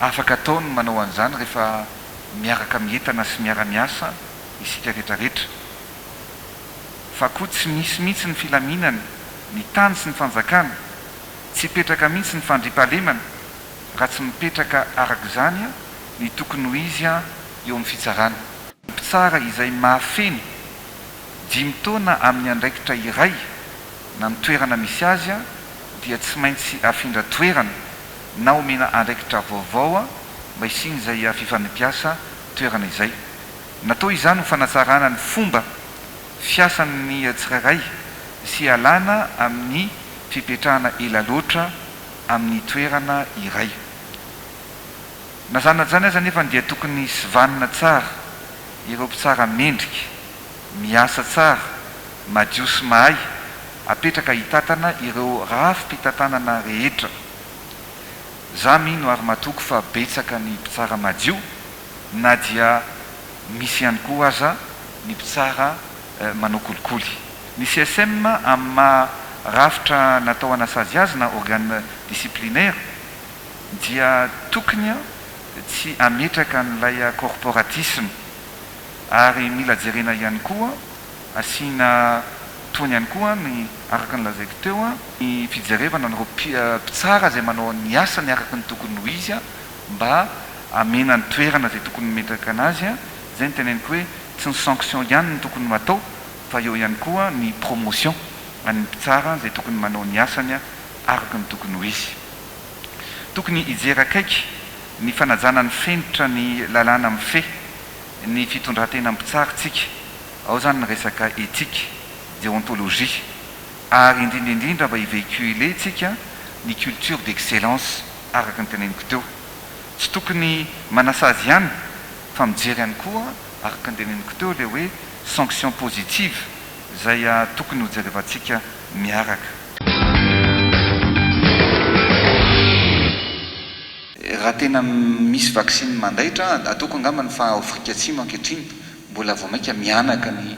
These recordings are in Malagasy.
Afaka atao ny manao an'izany rehefa miaraka mientana sy miara-miasa isika retraretra. Fa koa tsy misy mihitsy ny filaminana, ny tany sy ny fanjakana, tsy hipetraka mihitsy ny fandriampahalemana raha tsy mipetraka arak'izany ny tokony ho izy eo amin'ny fitsarana. Mpitsara izay mahafeno dimy taona amin'ny andraikitra iray na ny toerana misy azy dia tsy maintsy afindra toerana na omena andraikitra vaovao mba hisian'izay fifampiasa toerana izay. Natao izany ho fanatsarana ny fomba fiasan'ny tsirairay sy hialana amin'ny fipetrahana ela loatra amin'ny toerana iray. Na zany na zany aza anefa dia tokony hisivanina tsara ireo mpitsara mendrika, miasa tsara, madio sy mahay apetraka hitatana ireo rafi-pitantanana rehetra. Za mino ary matoky fa betsaka ny mpitsara madio na dia misy ihany koa aza ny mpitsara manao kolikoly. Ny CSM amin'ny maha rafitra natao hanasazy azy na organe disciplinaire, dia tokony tsy hametraka an'ilay corporatisme ary mila jerena ihany koa, asiana tohiny ihany koa ny araka ny lazaiko teo, ny fijerevana an'ireo mpitsara izay manao ny asany araka ny tokony ho izy mba hamena ny toerana izay tokony mimetraka an'azy, izay no teneniko hoe tsy ny sanction ihany no tokony ho atao fa eo ihany koa ny promotion an'ny mpitsara izay tokony manao ny asany araka ny tokony ho izy. Tokony hijery akaiky ny fanajana ny fenitra ny lalàna mifehy ny fitondran-tena mpitsara tsika, ao izany ny resaka ethique, déontologie, ary indrindra indrindra mba hi-véhiculer tsika ny culture d'excellence araka ny teneniko teo. Tsy tokony manasazy ihany fa mijery ihany koa araka ny teneniko teo ilay hoe sanction positive Izay tokony ho jerevantsika miaraka. Raha tena misy vaksiny mandaitra, ataoko angamba ny fa ao Afrika Atsimo ankehitriny mbola vao mainka mihanaka ny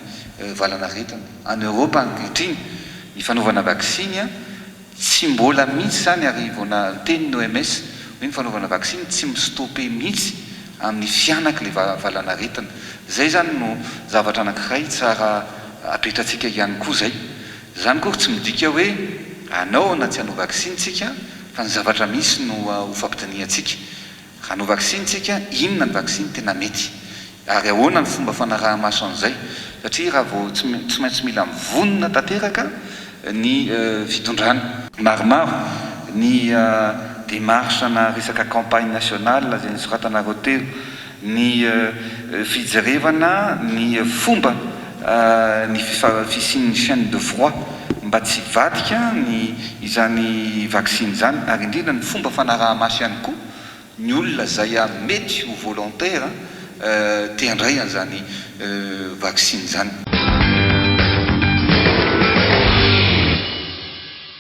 valanaretina. Any Eoropa ankehitriny ny fanaovana vaksiny. Tsy mbola mihitsy izany ary vao niteny ny OMS hoe ny fanaovana vaksiny tsy mi-stopper mihitsy amin'ny fihanaky ilay valanaretina. Izay izany no zavatra anankiray tsara apetratsika ihany koa izay. Izany akory tsy midika hoe hanao na tsy hanao vaksiny tsika fa ny zavatra misy no hofampidinihantsika. Raha hanao vaksiny isika, inona ny vaksiny tena mety? Ary ahoana ny fomba fanaraha-maso an'izay? Satria raha vao tsy tsy maintsy mila mivonona tanteraka ny fitondrana. Maromaro ny démarche na resaka campagne nationale izay nosoratanareo teo. Ny fijerevana ny fomba ny fisian'ny chaine de froid mba tsy hivadika ny izany vaksiny izany ary indrindra ny fomba fanaraha-maso ihany koa ny olona izay mety ho volontaire te handray an'izany vaksiny izany.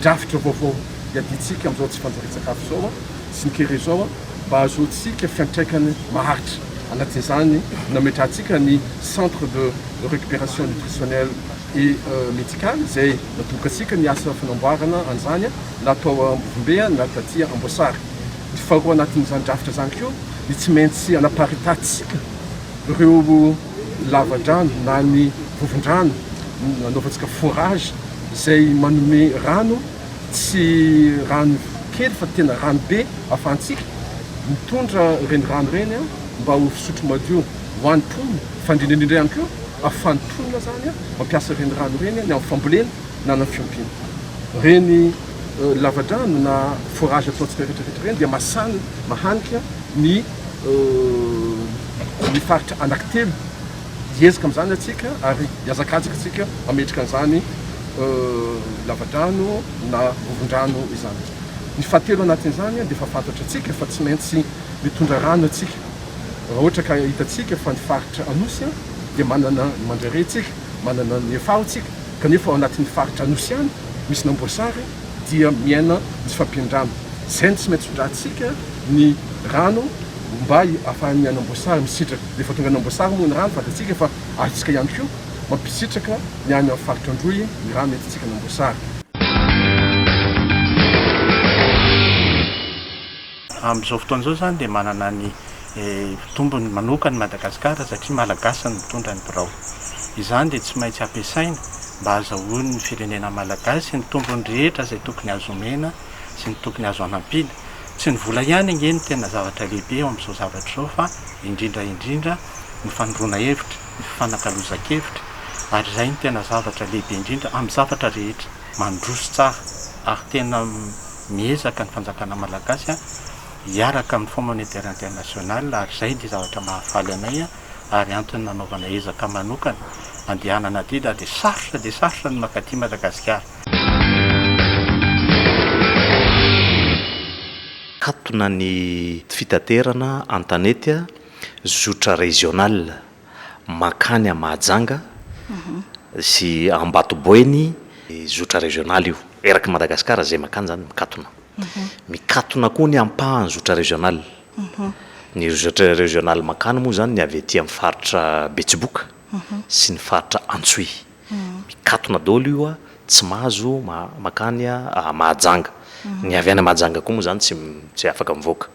Drafitra vaovao iadiantsika amin'izao tsy fanjarian-tsakafo izao sy ny kere izao mba hahazoantsika fiantraikany maharitra. Anatin'izany, nametrahantsika ny Centre de Récupération Nutritionnelle et Médicale izay natobokantsika ny asa fanamboarana an'izany na tao Ambovombe na taty Amboasary. Ny faharoa anatin'izany drafitra izany koa ny tsy maintsy hanaparitantsika ireo. lavadrano na ny vovon-drano nanaovantsika forage izay manome rano tsy rano kely fa tena rano be ahafahantsika mitondra ireny rano ireny mba ho fisotro madio ho an'ny mponina fa indrindra indrindra ihany koa ahafahan'ny mponina izany mampiasa ireny rano ireny ny amin'ny fambolena na ny amin'ny fiompiana. Ireny lavadrano na forage ataontsika rehetra rehetra ireny dia mahasana, mahanika ny ny faritra anankitelo. Hiezaka amin'izany antsika ary hiazakazaka antsika hametraka an'izany lavadrano na vovondrano izany. Ny fahatelo anatin'izany dia efa fantatra antsika fa tsy maintsy mitondra rano antsika. Raha ohatra ka hitantsika fa ny faritra Anosy dia manana ny Mandrare isika, manana ny Efaho isika, kanefa ao anatin'ny faritra Anosy ihany misy ny Amboasary dia miaina ny tsy fampian-drano. Izay no tsy maintsy tondrahantsika ny rano. Mba hahafahan'ny an'Amboasary misitraka. Rehefa tonga any Amboasary moa ny rano, fantatsika fa azontsika ihany koa mampisitraka ny any amin'ny faritra Androy ny rano entintsika any Amboasary. Amin'izao fotoana izao izany dia manana ny tombony manokana i Madagasikara satria Malagasy no mitondra ny birao. Izany dia tsy maintsy ampiasaina mba hahazahoan'ny firenena Malagasy ny tombony rehetra izay tokony azo omena sy ny tokony azo hanampiana. Tsy ny vola ihany ange no tena zavatra lehibe eo amin'izao zavatra izao fa indrindra indrindra ny fanondroana hevitra, ny fifanakalozan-kevitra ary izay no tena zavatra lehibe indrindra amin'ny zavatra rehetra. Mandroso tsara ary tena miezaka ny fanjakana malagasy hiaraka amin'ny Fonds Monétaire International ary izay dia zavatra mahafaly anay. ary antony nanaovana ezaka manokana handehanana adidy aho dia sarotra dia sarotra ny mankaty Madagasikara. Katona ny fitaterana an-tanety zotra regional mankany à Mahajanga sy Ambatoboeny, zotra regional io eraky Madagasikara izay mankany izany mikatona, mikatona koa ny ampahany zotra regional. Ny Resetre Regional Makany moa izany ny avy aty amin'ny faritra Betsiboka sy ny faritra Antsohihy. Mikatona daholo io a, tsy mahazo makany Mahajanga. Ny avy any Mahajanga koa moa izany tsy tsy afaka mivoaka.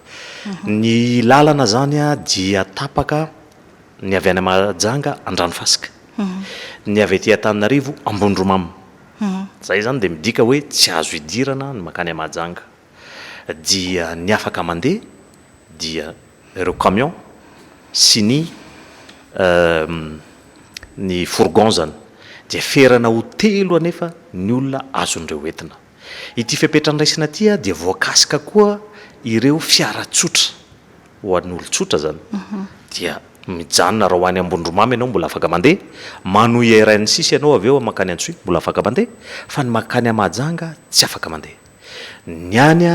Ny lalana izany dia tapaka ny avy any Mahajanga Andranofasika. Ny avy aty Antananarivo Ambondromamy. Izay izany dia midika hoe tsy azo idirana ny makany Mahajanga. dia ny afaka mandeha dia ireo camion sy ny ny fourgon zany dia ferana ho telo anefa ny olona azon'ireo entina. Ity fepetra andraisana ity dia voakasika koa ireo fiara tsotra ho an'olon-tsotra zany dia mijanona raha ho any Ambondromamy ianao mbola afaka mandeha, manohy RN six ianao avy eo mankany Antsohihy mbola afaka mandeha fa ny mankany Mahajanga tsy afaka mandeha. Ny any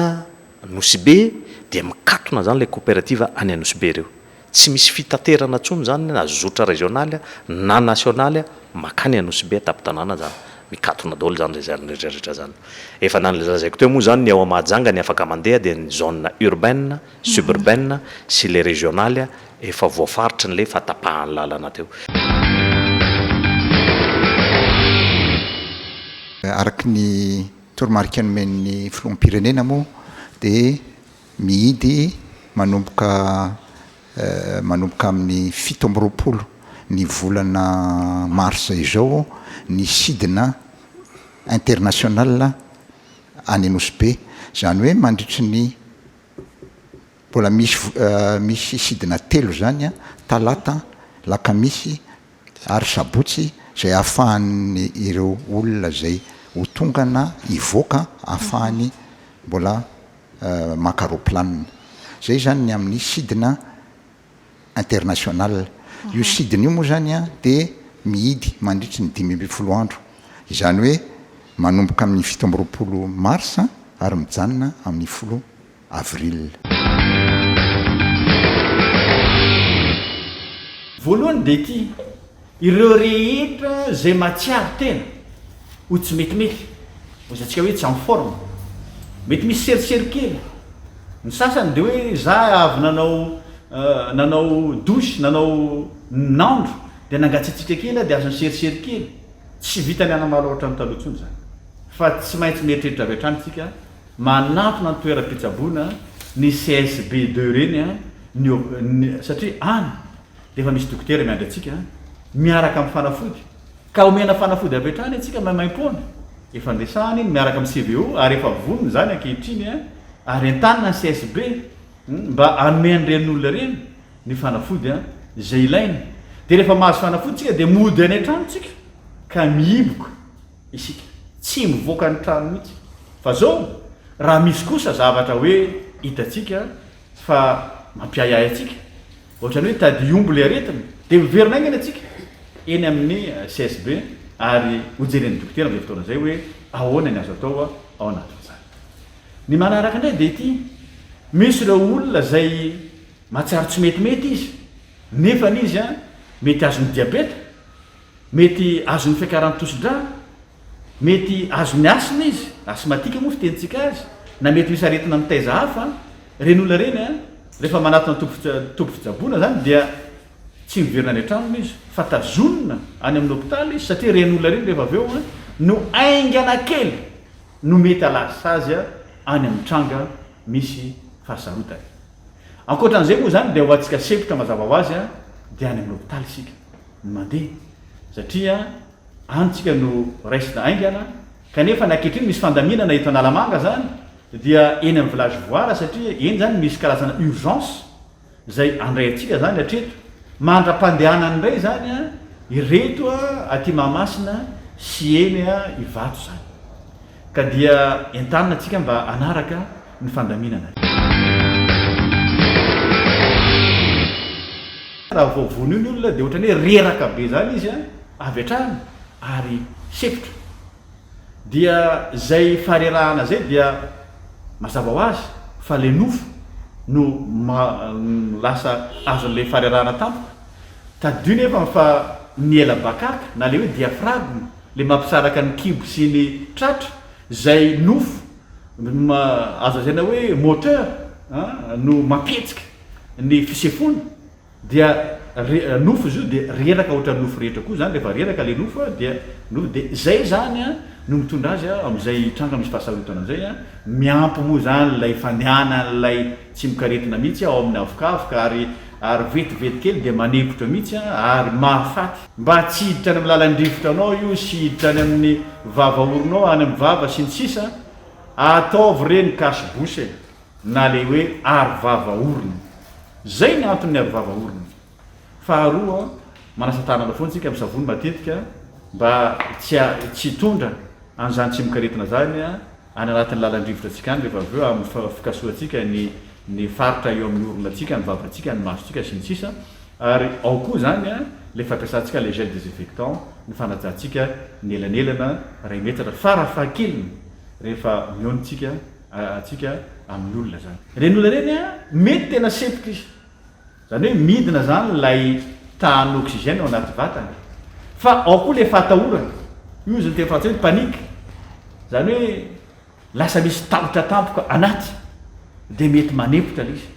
Anosibe dia mikatona izany ilay koperativa any Anosibe ireo. Tsy misy fitaterana intsony izany na zotra rezionaly na nasionaly makany Anosibe an-tampon-tanàna izany. Mikatona daholo izany izay rehetra rehetra izany. Efa nolazaiko teo moa izany ny ao Mahajanga ny afaka mandeha dia ny zone urbaine, suburbaine sy ilay rezionaly efa voafaritry ilay efa tapahan'ny lalana teo. Araka ny. Toromarika nomen'ny Filoham-pirenena moa dia mihidy manomboka manomboka amin'ny fito amby roapolo ny volana marsa izao ny sidina international any Nosy Be. Izany hoe mandritry ny. Mbola misy misy sidina telo izany an, talata, lakamisy ary sabotsy izay ahafahany ireo olona izay ho tonga na hivoaka ahafahany mbola maka roplanina. Izay izany ny amin'ny sidina international. Io sidina io moa izany an dia mihidy mandritry ny dimy ambin'ny folo andro. Izany hoe manomboka amin'ny fito amby roapolo marsa ary mijanona amin'ny folo avril. Voalohany dia ity, ireo rehetra izay mahatsiaro tena ho tsy metimety, izay antsika hoe tsy en forme, mety misy serosery kely, ny sasany dia hoe za avy nanao nanao douche, nanao nandro dia nangatsiatsiaka kely aho dia aza niserosery kely, tsy vitan'ny hanamalo ohatran'ny taloha intsony izany fa tsy maintsy mieritreritra avy hatrany isika, Manantona ny toeram-pitsaboana ny CSB deux ireny ny hop ny satria any dia efa misy dokotera miandry antsika miaraka amin'ny fanafody ka omena fanafody avy hatrany antsika maimaim-poana. Efa niresahana iny miaraka amin'ny CVO ary efa vonona izany ankehitriny ary entanina ny CSB mba hanome an'ireny olona ireny ny fanafody izay ilainy. Dia rehefa mahazo fanafody isika dia mody any an-trano isika ka mihiboka. isika. Tsy mivoaka ny trano mihitsy. Fa zao raha misy kosa zavatra hoe hitantsika fa mampiahiahy antsika, ohatrany hoe tadidy omby le aretina, de miverina aingana tsika eny amin'ny CSB ary ho jeren'ny dokotera am'zay fotoana zay hoe ahoana ny azo atao ao anatin'izany. Ny manaraka indray de ity, misy ireo olona zay mahatsiaro tsy metimety izy nefany izy mety azon'ny diabeta Mety azon'ny fiakaran'ny tosidra, mety azon'ny asthme izy, asthmatique moa fitenintsika azy, na mety misy aretina mitaiza hafa, ireny olona ireny an, rehefa manatona toby toby fitsaboana izany dia tsy miverina any an-tranony izy fa tazonina any amin'ny hopitaly izy satria ireny olona ireny rehefa avy eo an, no haingana kely no mety ahalasa azy any amin'ny tranga misy fahasarotana. Ankoatra an'izay moa izany dia ho antsika sempotra mazava ho azy dia any amin'ny hopitaly isika no mandeha satria any isika no raisina haingana kanefa ny ankehitriny misy fandaminana eto Analamanga izany dia eny amin'ny village voara satria eny izany misy karazana urgence izay andray antsika izany hatreto mandra-pandehanany indray izany ireto aty Mahamasina sy eny Ivato izany. Ka dia entanina tsika mba hanaraka ny fandaminana. Raha vao vonio ny olona dia ohatrany hoe reraka be zany izy an, avy hatrany ary sempotra. Dia zay faharerahana zay dia mazava ho azy fa le nofo no lasa azon'ilay faharerahana tampoka. Tadidio nefa fa ny ela bakaka na le hoe diaphragme le mampisaraka ny kibo sy ny tratra zay nofo azo lazaina hoe moteur no mampihetsika ny fisefoana dia nofo izy io dia reraka ohatran'ny nofo rehetra koa zany rehefa reraka le nofo dia nofo dia zay zany no mitondra azy amizay hitranga misy fahasarotana zay miampy moa zany lay fandehanan'ilay Tsy mikaretina mihitsy ao amin'ny havokavoka ary ary vetivety kely dia manepotra mihitsy ary mahafaty. Mba tsy hiditra any amin'ny lalan-drivotranao io sy hiditra any amin'ny vava-oronao, any amin'ny vava sy ny sisa, ataovy ireny cache bouche e! na ilay hoe arovava-orona. Izay ny anton'ny arovava-orona. Faharoa, manasa tanana foana isika amin'ny savony matetika mba tsy tsy hitondra an'izany tsy mikaretina izany. any anatin'ny lalan-drivotra antsika any rehefa avy eo amin'ny fikasohantsika ny ny faritra eo amin'ny oronantsika, ny vavantsika, ny masontsika sy ny sisa Ary ao koa izany ilay fampiasantsika ilay gel désinfectant, ny fanajantsika ny elanelana iray metatra farafahakeliny rehefa mionintsika antsika amin'ny olona izany. Ireny olona ireny mety tena sempotra izy. Izany hoe midina izany ilay tahan'ny oxygène ao anaty vatana e. Fa ao koa ilay fahatahorana. Io izy ny teny frantsay hoe panique. Izany hoe lasa misy tahotra tampoka anaty dia mety manempotra ilay izy.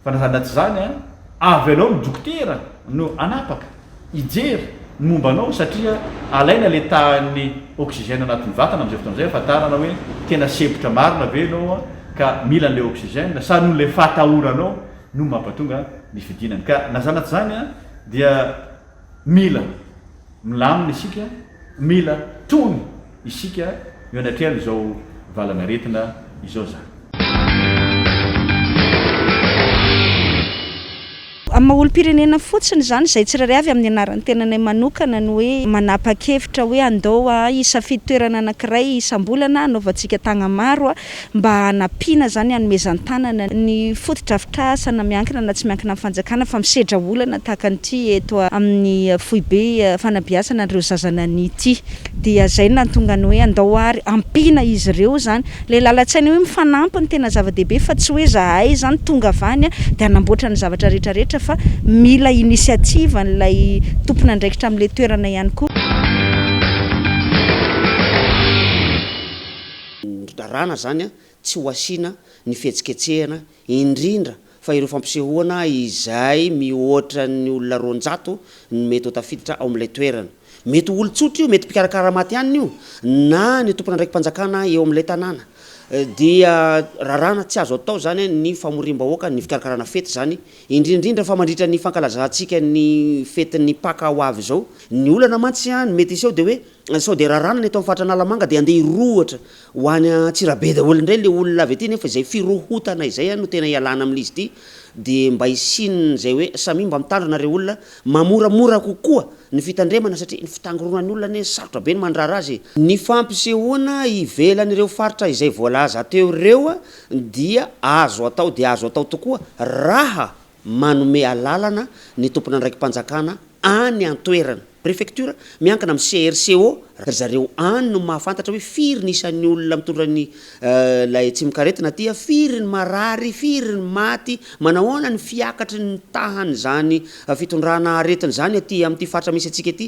Fa na izany na tsy izany an, avy anao ny dokotera no hanapaka, hijery ny momba anao satria alaina ilay tahan'ny oxygène anatin'ny vatana amin'izay fotoana izay hahafantarana hoe tena sempotra marina ve ianao ka mila an'ilay oxygène sa noho ilay fahatahoranao no mampatonga ny fidinany. Ka na zanatr zany dia mila milamina isika, mila tony isika eo anatrehan izao valan'aretina izao zany. Amin'ny maha olom-pirenena fotsiny izany, izay tsirairay avy amin'ny anaran'ny tenanay manokana no hoe manapa-kevitra hoe andao hisafidy toerana anankiray isam-bolana hanaovantsika tagnamaro mba hanampiana izany hanomezan-tanana ny fotodrafitrasana miankina na tsy miankina amin'ny fanjakana fa misedra olana tahaka an'ity eto amin'ny foibe fanabeazana an'ireo zaza nania ity dia izay no nahatonga ny hoe andao ary ampiana izy ireo izany ilay lalan-tsaina hoe mifanampy no tena zava-dehibe fa tsy hoe zahay izany tonga avy any dia hanamboatra ny zavatra rehetra rehetra fa mila initiative an'ilay tompon'andraikitra amin'ilay toerana ihany koa. ny raràna izany tsy ho asiana ny fihetsiketsehana indrindra fa ireo fampisehoana izay mihoatra ny olona roanjato no mety ho tafiditra ao amin'ilay toerana. Mety ho olon-tsotra io, mety mpikarakara maty hanina io na ny tompon'andraiki-panjakana eo amin'ilay tanàna. Dia raràna tsy azo atao izany ny famoriam-bahoaka ny fikarakarana fety izany, indrindra indrindra fa mandritra ny fankalazantsika ny fetin'ny Paka ho avy izao. Ny olana mantsy mety hiseho dia hoe Sao dia rarana ny eto amin'ny faritra Analamanga dia handeha hirohotra ho any Antsirabe daholo indray ilay olona avy aty nefa izay firohotana izay no tena ialana amin'izy ity dia mba hisian'izay hoe samia mba mitandrina ry olona mamoramora kokoa ny fitandremana satria ny fitangoronan'ny olona anie sarotra be ny mandrara azy e. Ny fampisehoana ivelan'ireo faritra izay voalaza teo ireo dia azo atao dia azo atao tokoa raha manome alalana ny tompon'andraiki-panjakana any an-toerana, prefecture, miankina amin'ny CRCO, ry zareo any no mahafantatra hoe firy ny isan'ny olona mitondra ny ilay tsimokaretina aty, firy ny marary, firy ny maty, manahoana ny fiakatry ny tahan'izany fitondrana aretina izany aty amin'ity faritra misy antsika ity.